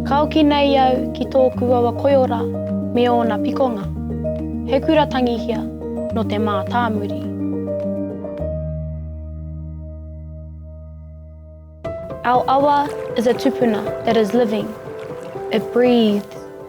Ka hoki nei au ki tōku awa koiora me ōna pikonga. He kura tangihia nō te mātāmuri. Our awa is a tupuna that is living, it breathes.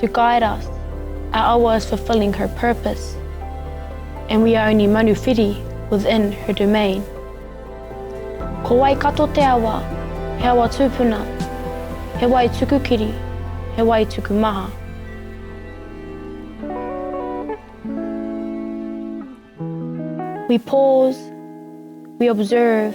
to guide us, our awa is fulfilling her purpose and we are only manuwhiri within her domain. Ko Waikato te awa, he awa tūpuna, he wai tuku kiri, he wai tuku maha. We pause, we observe,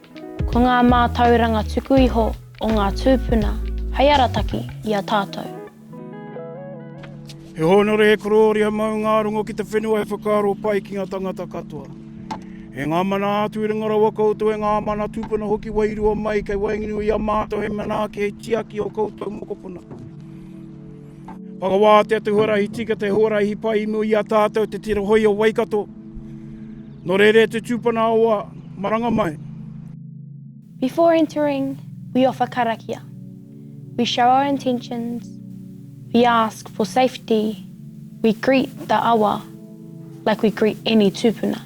Ko ngā mātauranga tuku iho o ngā tūpuna hei arataki i a tātou. He hōnore, he korōria maungārongo ki te whenua he whakaaro pai ki ngā tangata katoa. E ngā mana atu i runga rawa koutou, e ngā mana tūpuna hoki wairua mai, kei waenganui i a mātou hei manaaki, hei tiaki i ō koutou mokopuna. Whakawātea te huarahi tika, te huarahi pai i mua i a tātou te tira hoi o Waikato. Nō reira te tūpana awa, maranga mai. Before entering, we offer karakia. We show our intentions, we ask for safety, we greet the awa like we greet any tūpuna.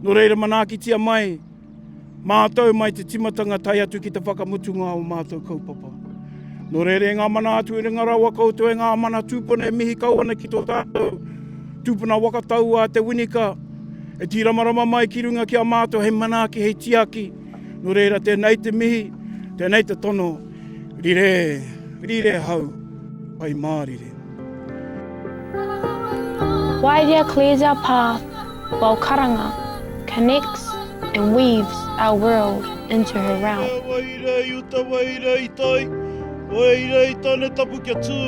Nō reira manaakitia mai. mātou mai te timatanga tae atu ki te whakamutunga o mātou kaupapa. Nō reira ngā mana atu i runga rawa koutou e ngā mana tūpuna e mihi kau ana ki tō tātou tūpuna wakatau a Te Winika e tīramarama mai ki runga ki a mātou hei manaaki, hei tiaki. Nō reira tēnei te mihi, tēnei te tono, rire, rire hau, pai mārire. Waerea clears our path while karanga connects and weaves our world into her realm. Uta wai rei, uta wai rei tai, wai rei tane tapu kia tū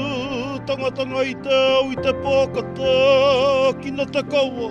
tangatanga i te au, i te pō ka tākina te kawa.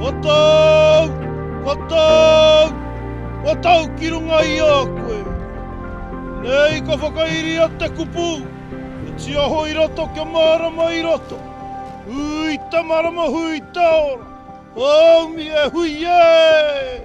Ko tōu, ko tōu, ko tōu ki runga i a koe. Nei ka whakairia te kupu, e tia hoi rato kia mārama i roto. Hui te marama, hui te ora, haumi e hui e!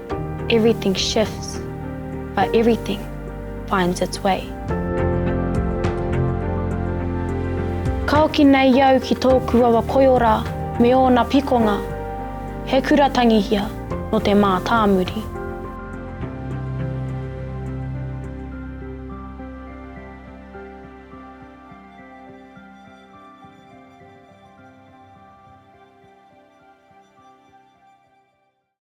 Everything shifts, but everything finds its way. Ka hoki nei au ki tōku awa koiora me ōna pikonga, he kura tangihia nō te mātāmuri.